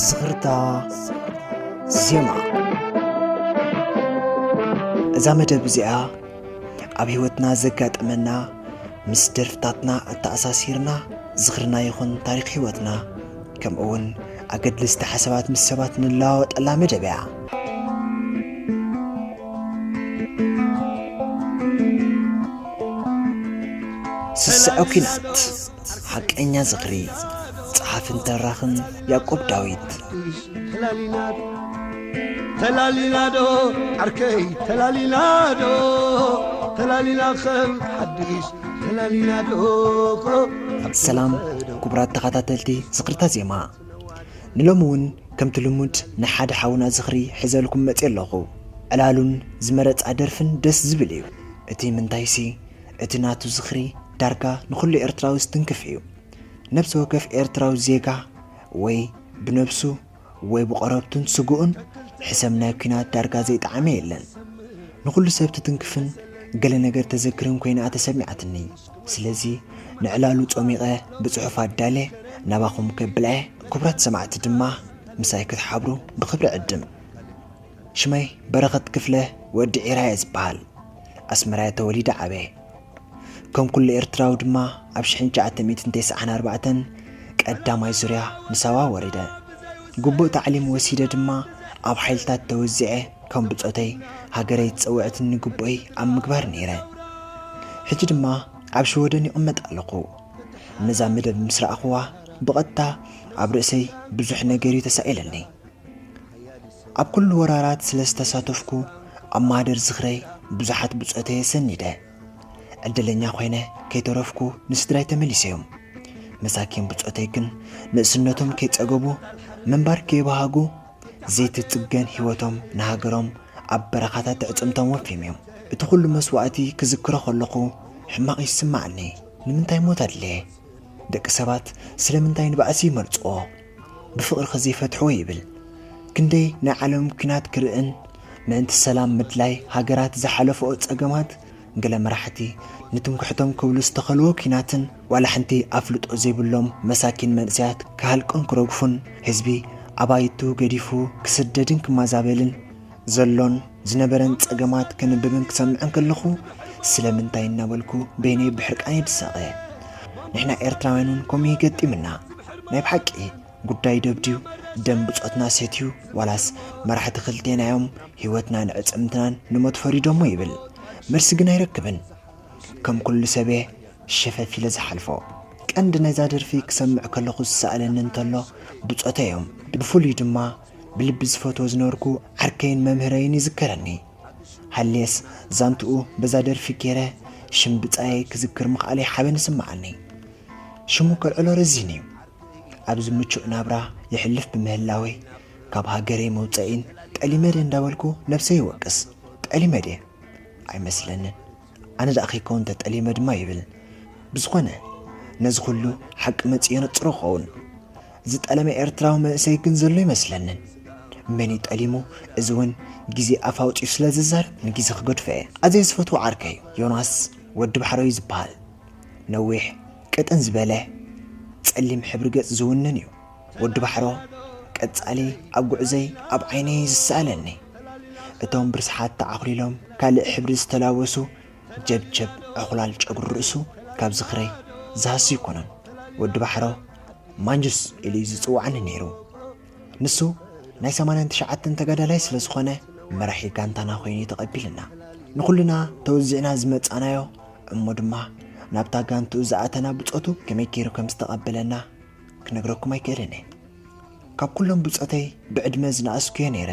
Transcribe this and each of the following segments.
ዝኽርታ ዜማ እዛ መደብ እዚኣ ኣብ ህይወትና ዘጋጠመና ምስ ደርፍታትና እተኣሳሲርና ዝኽርና ይኹን ታሪክ ህይወትና ከምኡ እውን ኣገድልስቲ ሓሳባት ምስ ሰባት ንለዋወጠላ መደብ እያ። ስስዐ ኲናት ሓቀኛ ዝኽሪ ጸሓፍን ተራኽን ያዕቆብ ዳዊት ተላሊናዶ ተላሊናዶ ዓርከይ ተላሊናዶ ተላሊና ከም ሓድሽ ሰላም ክቡራት ተኸታተልቲ ዝኽርታ ዜማ፣ ንሎሚ እውን ከምቲ ልሙድ ናይ ሓደ ሓውና ዝኽሪ ሕዘልኩም መጺኤ ኣለኹ። ዕላሉን ዝመረጻ ደርፍን ደስ ዝብል እዩ። እቲ ምንታይሲ እቲ ናቱ ዝኽሪ ዳርጋ ንኹሉ ኤርትራዊ ዝትንክፍ እዩ። ነብሲ ወከፍ ኤርትራዊ ዜጋ ወይ ብነብሱ፣ ወይ ብቆረብቱን ስግኡን ሕሰም ናይ ኩናት ዳርጋ ዘይጠዓመ የለን ንኩሉ ሰብ ትትንክፍን ገለ ነገር ተዘክርን ኮይና እያ ተሰሚዓትኒ ስለዚ ንዕላሉ ጾሚቀ ብጽሑፍ ኣዳልየ ናባኩም ከብላ እየ ኩቡራት ሰማዕቲ ድማ ምሳይ ክትሓብሩ ብክብሪ ዕድም ሽመይ በረኸት ክፍለ ወዲ ዒራ እየ ዝብሃል ኣስመራ እየ ተወሊደ ዓብየ ከም ኩሉ ኤርትራዊ ድማ ኣብ ሽሕን ትሽዓተ ሚእትን ተስዓን ኣርባዕተን ቀዳማይ ዙርያ ንሳዋ ወሪደ። ግቡእ ታዕሊም ወሲደ ድማ ኣብ ሓይልታት ተወዚዐ ከም ብጾተይ ሃገረይ ዝጸውዐትኒ ግቡእይ ኣብ ምግባር ነይረ። ሕጂ ድማ ኣብ ሽወደን ይቕመጥ ኣለኹ። ነዛ መደብ ምስ ረኣኹዋ ብቐጥታ ኣብ ርእሰይ ብዙሕ ነገርዩ ተሳኢለኒ። ኣብ ኩሉ ወራራት ስለ ዝተሳተፍኩ ኣብ ማህደር ዝኽረይ ብዙሓት ብጾተየ ሰኒደ። ዕድለኛ ኮይነ ከይተረፍኩ ንስድራይ ተመሊሰዮም። መሳኪን ብጾተይ ግን ንእስነቶም ከይጸገቡ ምንባር ከይበሃጉ ዘይትጽገን ህይወቶም ንሃገሮም ኣብ በረኻታት ኣዕጽምቶም ወፍዮምዮም። እቲ ኩሉ መስዋእቲ ክዝክሮ ከለኹ ሕማቕ ይስማዓኒ። ንምንታይ ሞት ኣድለየ? ደቂ ሰባት ስለምንታይ ንባእሲ ይመርጽዎ? ብፍቕርኺ ዘይፈትሕዎ ይብል ክንደይ ናይ ዓለም ኩናት ክርእን ምእንቲ ሰላም ምድላይ ሃገራት ዝሓለፍኦ ጸገማት ገለ መራሕቲ ንትምክሕቶም ክብሉ ዝተኸልዎ ኩናትን ዋላ ሐንቲ ኣፍልጦ ዘይብሎም መሳኪን መንእሰያት ክሃልቁን ክረግፉን ህዝቢ ኣባይቱ ገዲፉ ክስደድን ክማዛበልን ዘሎን ዝነበረን ጸገማት ከንብብን ክሰምዕን ከለኹ ስለምንታይ እናበልኩ በይነይ ብሕርቃነይ ድሳቐ። ንሕና ኤርትራውያን እውን ከምኡ እዩ ገጢምና። ናይ ብሓቂ ጉዳይ ደብድዩ ደም ብጾትና ሰትዩ ዋላስ መራሕቲ ክልቴና እዮም ህይወትናን ዕጽምትናን ንሞት ፈሪዶሞ ይብል መልሲ ግን ኣይረክብን ከም ኩሉ ሰበ ሸፈፍ ኢለ ዝሓልፎ ቀንዲ ነዛ ደርፊ ክሰምዕ ከለኹ ዝሰኣለኒ እንተሎ ብጾተይ እዮም ብፍሉይ ድማ ብልቢ ዝፈትዎ ዝነበርኩ ዓርከይን መምህረይን ይዝከረኒ። ሃልየስ ዛንትኡ በዛ ደርፊ ገይረ ሽም ብጻየይ ክዝክር ምኽኣለይ ሓበን ይስምዓኒ። ሽሙ ከልዕሎ ረዚን'ዩ። ኣብዚ ምቹእ ናብራ የሕልፍ ብምህላወይ ካብ ሃገረይ መውጸኢን ጠሊመ'ድየ እንዳበልኩ ነብሰይ ይወቅስ። ጠሊመ'ድየ? ኣይመስለንን። ኣነ ደኣ ከይከውን ተጠሊመ ድማ ይብል። ብዝኾነ ነዚ ኩሉ ሓቂ መጺኡ የነጽሮ ክኸውን። ዝጠለመ ኤርትራዊ መንእሰይ ግን ዘሎ ይመስለንን። መን እዩ ጠሊሙ? እዚ እውን ግዜ ኣፍ ኣውጺኡ ስለ ዝዛረብ ንግዜ ክገድፎ እየ። ኣዝየ ዝፈትዎ ዓርከይ ዮናስ ወዲ ባሕረ እዩ ዝበሃል። ነዊሕ፣ ቅጥን ዝበለ፣ ጸሊም ሕብሪ ገጽ ዝውንን እዩ። ወዲ ባሕሮ ቀጻሊ ኣብ ጉዕዘይ ኣብ ዓይነይ ዝስኣለኒ እቶም ብርስሓት ተዓኹሊሎም ካልእ ሕብሪ ዝተላበሱ ጀብጀብ ዕኹላል ጨጉሪ ርእሱ ካብ ዝኽረይ ዝሃሱ ኣይኮኑን ወዲ ባሕሮ ማንጁስ ኢሉዩ ዝጽውዓኒ ነይሩ ንሱ ናይ ሰማንያን ትሽዓተን ተጋዳላይ ስለ ዝኾነ መራሒ ጋንታና ኮይኑዩ ተቐቢልና ንኹልና ተወዚዕና ዝመጻናዮ እሞ ድማ ናብታ ጋንትኡ ዝኣተና ብጾቱ ከመይ ገይሩ ከም ዝተቐበለና ክነግረኩም ኣይክእልን እየ። ካብ ኩሎም ብጾተይ ብዕድመ ዝነኣስኩ'የ ነይረ።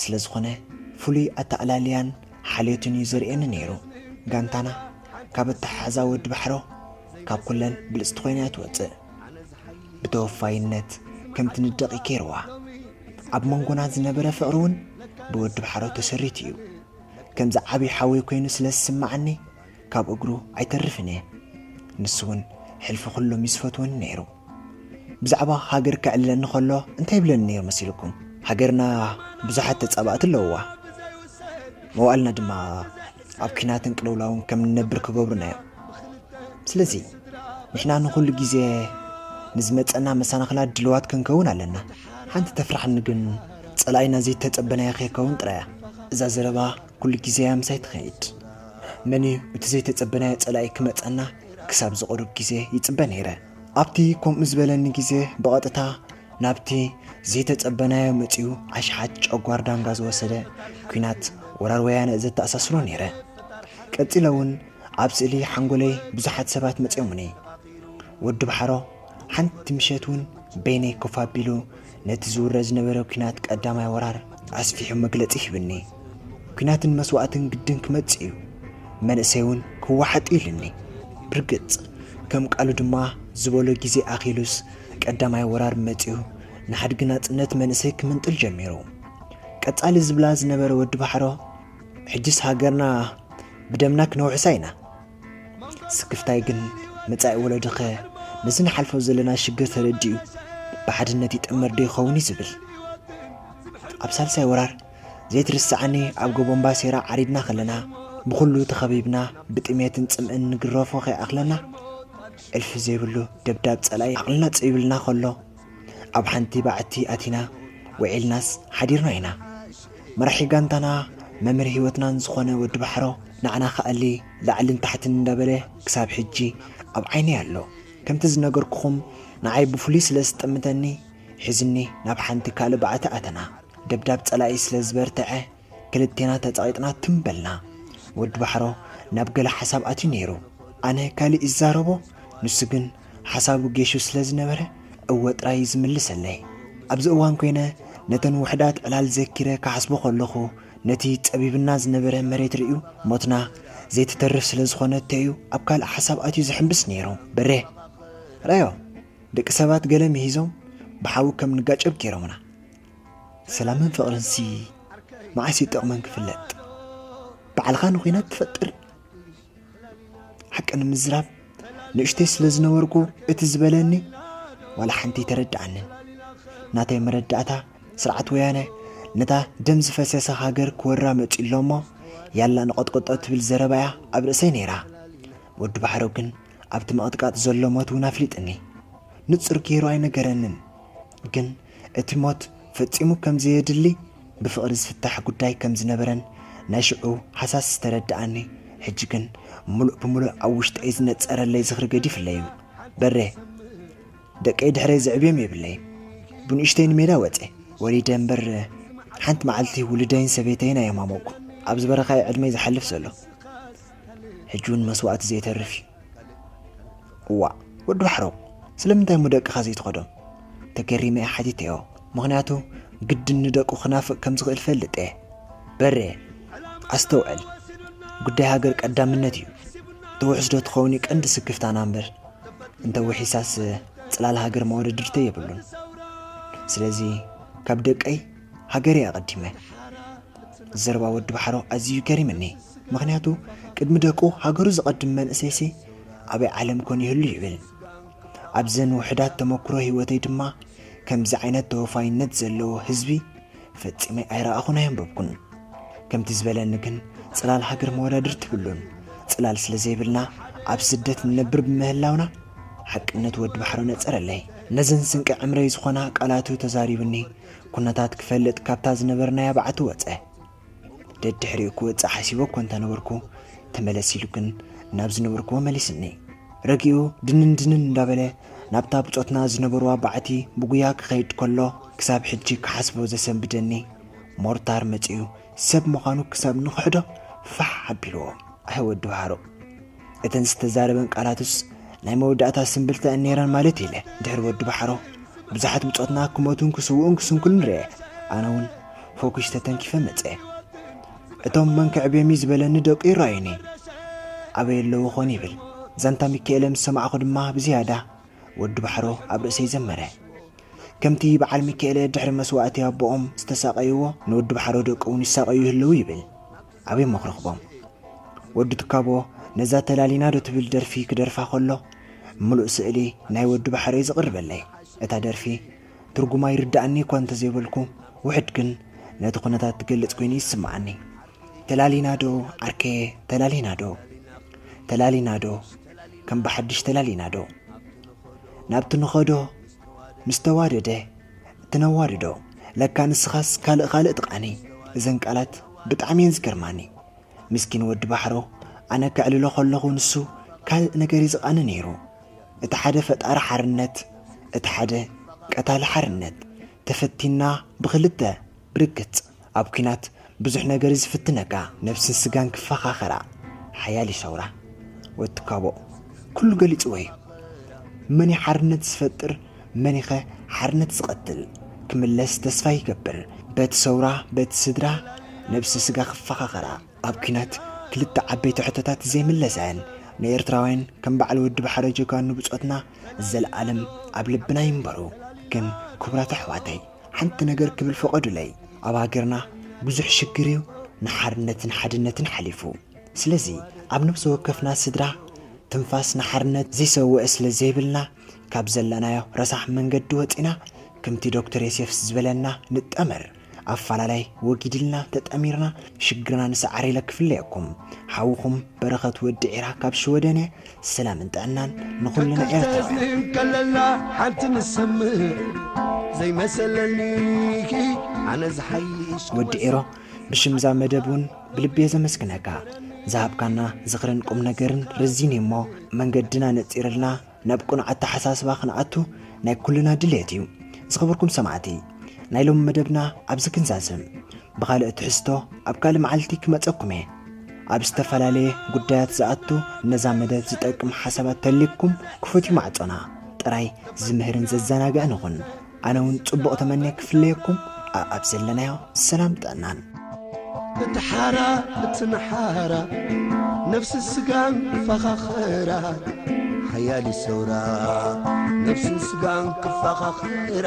ስለ ዝኾነ ፍሉይ ኣተኣላልያን ሓልዮትን እዩ ዘርእየኒ ነይሩ። ጋንታና ካብ ኣተሓሕዛ ወዲ ባሕሮ ካብ ኩለን ብልጽቲ ኮይና'ያ ትወጽእ። ብተወፋይነት ከምቲ ንደቒ ኬርዋ ኣብ መንጎና ዝነበረ ፍቕሪ እውን ብወዲ ባሕሮ ተሰሪቱ እዩ። ከምዚ ዓብዪ ሓወይ ኮይኑ ስለ ዝስምዓኒ ካብ እግሩ ኣይተርፍን እየ ንሱ ውን ሕልፊ ኩሎም እዩ ዝፈትወኒ ነይሩ ብዛዕባ ሃገር ከዕልለኒ ከሎ እንታይ ይብለኒ ነይሩ መሲልኩም ሃገርና ብዙሓት ተጻባእቲ ኣለውዋ መዋእልና ድማ ኣብ ኲናትን ቅልውላውን ከም ንነብር ክገብሩና እዮም ስለዚ ንሕና ንኹሉ ግዜ ንዝመፀና መሰናኽላት ድልዋት ክንከውን ኣለና ሓንቲ ተፍራሕኒ ግን ፀላኢና ዘይተፀበናዮ ከይከውን ጥራያ እዛ ዘረባ ኩሉ ግዜ እያ ምሳይ ትኸይድ። መን እዩ እቲ ዘይተጸበናዮ ጸላኢ ክመጸና ክሳብ ዝቕሩብ ግዜ ይጽበ ነይረ። ኣብቲ ከምኡ ዝበለኒ ግዜ ብቐጥታ ናብቲ ዘይተጸበናዮ መጺኡ ኣሽሓት ጨጓር ዳንጋ ዝወሰደ ኩናት ወራር ወያነ ዘተኣሳስሮ ነይረ። ቀጺለ እውን ኣብ ስእሊ ሓንጎለይ ብዙሓት ሰባት መጺኦሙኒ። ወዲ ባሕሮ ሓንቲ ምሸት እውን በይነይ ኮፍ ኣቢሉ ነቲ ዝውረ ዝነበረ ኲናት ቀዳማይ ወራር ኣስፊሑ መግለጺ ሂብኒ። ኲናትን መስዋእትን ግድን ክመጽእ እዩ፣ መንእሰይ እውን ክወሓጥ እዩ ኢሉኒ። ብርግጽ ከም ቃሉ ድማ ዝበሎ ግዜ ኣኺሉስ ቀዳማይ ወራር መጺኡ ንሓድጊ ናጽነት መንእሰይ ክምንጥል ጀሚሩ። ቀጻሊ ዝብላ ዝነበረ ወዲ ባሕሮ ሕጅስ ሃገርና ብደምና ክነውሕሳ ኢና፣ ስክፍታይ ግን መጻኢ ወለዶኸ ነዚ ንሓልፎ ዘለና ሽግር ተረዲኡ ብሓድነት ይጥመር ዶ ይኸውን እዩ ዝብል። ኣብ ሳልሳይ ወራር ዘይትርሰዓኒ ኣብ ጎቦ እምባሴራ ዓሪድና ከለና ብኹሉ ተኸቢብና ብጥሜትን ጽምእን ንግረፎ ከይኣኽለና እልፊ ዘይብሉ ደብዳብ ጸላኢ ዓቕልና ጸቢብልና ከሎ ኣብ ሓንቲ ባዕቲ ኣቲና ውዒልናስ ሓዲርና ኢና። መራሒ ጋንታና መምህር ህይወትናን ዝኾነ ወዲ ባሕሮ ንዓና ክኣሊ ላዕልን ታሕትን እንዳበለ ክሳብ ሕጂ ኣብ ዓይነይ ኣሎ። ከምቲ ዝነገርኩኹም ንዓይ ብፍሉይ ስለ ዝጠምተኒ ሒዙኒ ናብ ሓንቲ ካልእ ባዕቲ ኣተና። ደብዳብ ጸላኢ ስለ ዝበርተዐ ክልቴና ተጸቒጥና ትም በልና። ወዲ ባሕሮ ናብ ገለ ሓሳብ ኣትዩ ነይሩ። ኣነ ካልእ ይዛረቦ፣ ንሱ ግን ሓሳቡ ጌሹ ስለ ዝነበረ እወ ጥራይ እዩ ዝምልሰለይ። ኣብዚ እዋን ኮይነ ነተን ውሑዳት ዕላል ዘኪረ ክሓስቦ ከለኹ ነቲ ጸቢብና ዝነበረ መሬት ርእዩ ሞትና ዘይትተርፍ ስለ ዝኾነቶ እዩ ኣብ ካልእ ሓሳብ ኣትዩ ዝሕምብስ ነይሩ። በሬ! ርኣዮ! ደቂ ሰባት ገለ ምሂዞም ብሓዊ ከም ንጋጨብ ገይሮምና። ሰላምን ፍቕርንሲ መዓስ እዩ ጥቕመን ክፍለጥ? ባዕልኻ ንኹናት ትፈጥር። ሓቂ ንምዝራብ ንእሽተይ ስለ ዝነበርኩ እቲ ዝበለኒ ዋላ ሓንቲ ተረድኣንን። ናተይ መረዳእታ ስርዓት ወያነ ነታ ደም ዝፈሰሰ ሃገር ክወራ መፅኡ ኣሎ እሞ ያላ ንቐጥቅጦ ትብል ዘረባ እያ ኣብ ርእሰይ ነይራ። ወዲ ባሕረው ግን ኣብቲ ምቕጥቃጥ ዘሎ ሞት እውን ኣፍሊጥኒ ንፁር ገይሩ ኣይነገረንን። ግን እቲ ሞት ፈጺሙ ከም ዘየድሊ ብፍቕሪ ዝፍታሕ ጉዳይ ከም ዝነበረን ናይ ሽዑ ሃሳስ ዝተረደኣኒ ሕጂ ግን ምሉእ ብምሉእ ኣብ ውሽጠይ ዝነጸረለይ ዝኽሪ ገዲፍለይ እዩ። በሬ ደቀይ ድሕረይ ዘዕብዮም የብለይን። ብንእሽተይ ንሜዳ ወጼ ወሊደ እምበር ሓንቲ መዓልቲ ውሉደይን ሰበይተይን ኣየማሞቕኩ። ኣብዚ በረኻ እዩ ዕድመይ ዝሓልፍ ዘሎ። ሕጂ ውን መስዋእቲ ዘይተርፍ ዩ እዋእ ወዲ ባሕረው ስለምንታይ እሞ ደቅኻ ዘይትኸዶም ተገሪመ እየ ሓቲተዮ ምኽንያቱ ግድን ንደቁ ክናፍቅ ከም ዝኽእል ፈልጥ እየ በሬ ኣስተውዕል ጉዳይ ሃገር ቀዳምነት እዩ ተውሕስ ዶ ትኸውን እዩ ቀንዲ ስክፍታና እምበር እንተ ውሒሳስ ጽላል ሃገር መወደድርተ የብሉን ስለዚ ካብ ደቀይ ሃገር እየ ኣቐዲመ ዘረባ ወዲ ባሕሮ ኣዝዩ ገሪምኒ ምኽንያቱ ቅድሚ ደቁ ሃገሩ ዘቐድም መንእሰይሲ ኣበይ ዓለም ኮን ይህሉ ይብል ኣብዘን ውሑዳት ተመኩሮ ሂወተይ ድማ ከምዚ ዓይነት ተወፋይነት ዘለዎ ህዝቢ ፈጺመ ኣይረኣኹን ኣየንበብኩን ከምቲ ዝበለኒ ግን ጽላል ሃገር መወዳድርቲ ይብሉን ጽላል ስለ ዘይብልና ኣብ ስደት ንነብር ብምህላውና ሓቅነት ወዲ ባሕሮ ነጸረለይ ነዘን ስንቂ ዕምረይ ዝኾና ቃላቱ ተዛሪብኒ ኩነታት ክፈልጥ ካብታ ዝነበርናያ በዓቲ ወጸ። ደድሕሪኡ ክወጽእ ሓሲበ እኮ እንተ ነበርኩ፣ ተመለስ ኢሉ ግን ናብ ዝነበርኩዎ መሊስኒ። ረጊኡ ድንን ድንን እንዳበለ ናብታ ብጾትና ዝነበሩዋ በዓቲ ብጉያ ክኸይድ ከሎ፣ ክሳብ ሕጂ ክሓስቦ ዘሰንብደኒ፣ ሞርታር መጺኡ ሰብ ምዃኑ ክሳብ ንኽሕዶ ፋሕ ኣቢሉዎ። ኣሕ ወዲ ባሕሩ! እተን ዝተዛረበን ቃላትስ ናይ መወዳእታ ስምብልታ እየን ነይረን ማለት ኢለ ድሕሪ ወዲ ባሕሮ ብዙሓት ብጾትና ክሞቱን ክስውኡን ክስንኩልን ርኤ ኣነ እውን ፎኩሽ ተተንኪፈ መጸ እቶም መን ክዕብዮም እዩ ዝበለኒ ደቁ ይረኣዩኒ ኣበይ ኣለዉ ኾን ይብል ዛንታ ሚካኤለ ምስ ሰማዕኹ ድማ ብዝያዳ ወዲ ባሕሮ ኣብ ርእሰይ ዘመረ ከምቲ በዓል ሚካኤለ ድሕሪ መስዋእቲ ኣቦኦም ዝተሳቐይዎ ንወዲ ባሕሮ ደቁ እውን ይሳቐዩ ይህልው ይብል ኣበይ እሞ ክረኽቦም ወዲ ትካቦ ነዛ ተላሊና ዶ ትብል ደርፊ ክደርፋ ከሎ ምሉእ ስእሊ ናይ ወዲ ባሕረይ ዝቕርበለይ እታ ደርፊ ትርጉማ ይርድኣኒ እኳ እንተዘይበልኩ ውሕድ ግን ነቲ ኩነታት ትገልጽ ኮይኑ ይስምዓኒ ተላሊና ዶ ዓርከየ ተላሊና ዶ ተላሊና ዶ ከም ብሓድሽ ተላሊና ዶ ናብቲ ንኸዶ ምስ ተዋደደ እቲ ነዋድዶ ለካ ንስኻስ ካልእ ካልእ ትቃኒ እዘን ቃላት ብጣዕሚ እየን ዝገርማኒ ምስኪን ወዲ ባሕሮ ኣነ ከዕልሎ ከለኹ ንሱ ካልእ ነገር እዩ ዝቃኒ ነይሩ እቲ ሓደ ፈጣሪ ሓርነት እቲ ሓደ ቀታሊ ሓርነት ተፈቲንና ብኽልተ ብርግጽ ኣብ ኩናት ብዙሕ ነገር እዩ ዝፍትነካ ነብስን ስጋን ክፋኻኸራ ሓያል እዩ ሰውራ ወትካቦ ኩሉ ገሊጽዎ እዩ መን እዩ ሓርነት ዝፈጥር መኒኸ ሓርነት ዝቐትል ክምለስ ተስፋ ይገብር በቲ ሰውራ በቲ ስድራ ነብሲ ስጋ ክፋኻኸራ ኣብ ኩናት ክልተ ዓበይቲ ሕቶታት ዘይምለሰን ንኤርትራውያን ከም በዓል ወዲ ባሕረ ጀጋኑ ብጾትና ዘለኣለም ኣብ ልብና ይንበሩ ግን ክቡራት ኣሕዋተይ ሓንቲ ነገር ክብል ፍቐዱለይ ኣብ ሃገርና ብዙሕ ሽግር እዩ ንሓርነትን ሓድነትን ሓሊፉ ስለዚ ኣብ ነብሲ ወከፍና ስድራ ትንፋስ ንሓርነት ዘይሰወኣ ስለ ዘይብልና ካብ ዘለናዮ ረሳሕ መንገዲ ወጺና ከምቲ ዶክተር የሴፍስ ዝበለና ንጠመር ኣፋላላይ ወጊድልና ተጠሚርና ሽግርና ንስዓር ኢለ ክፍለየኩም ሓውኹም በረኸት ወዲ ዒራ ካብ ሽወደን እየ ሰላምን ጥዕናን ንኹልና ኤርትራውያን ከለና ሓንቲ ንሰምዕ ዘይመሰለኒኪ ኣነ ዝሓይሽ ወዲ ኤሮ ብሽምዛ መደብ እውን ብልቤ ዘመስግነካ ዝሃብካና ዝኽርን ቁም ነገርን ርዚን እሞ መንገድና ነፂርልና ናብ ቅኑዕ ኣተሓሳስባ ክንኣቱ ናይ ኩልና ድሌት እዩ ዝኸበርኩም ሰማዕቲ ናይ ሎሚ መደብና ኣብዚ ክንዛዝም ብኻልእ ትሕዝቶ ኣብ ካልእ መዓልቲ ክመጸኩም እየ። ኣብ ዝተፈላለየ ጉዳያት ዝኣቱ ነዛ መደብ ዝጠቅም ሓሳባት ተልዩኩም ክፉት እዩ ማዕጾና። ጥራይ ዝምህርን ዘዘናግዕን ይኹን። ኣነ ውን ጽቡቕ ተመንየ ክፍለየኩም ኣኣብ ዘለናዮ ሰላም ጥዕናን። እቲ ሓራ እቲ ንሓራ ነፍሲ ስጋን ክፋኻኽራ ሓያል እዩ ሰውራ ነፍስን ስጋን ክፋኻኽራ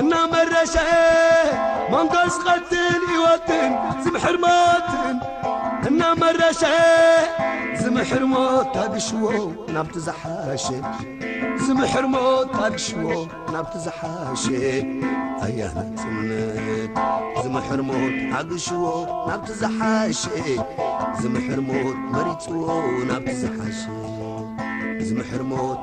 እናመረሸኤ መንጎስ ቐትን ይወትን ዝምሕር ሞትን እናመረሸኤ ዝምሕር ሞት ታግሽዎ ናብቲ ዝሓሸ ዝምሕር ሞት ታግሽዎ ናብቲ ዝሓሸ ኣያ ናጽነት ዝምሕር ሞት ኣግሽዎ ናብቲ ዝሓሸ ዝምሕር ሞት መሪጽዎ ናብቲ ዝሓሸ ዝምሕር ሞት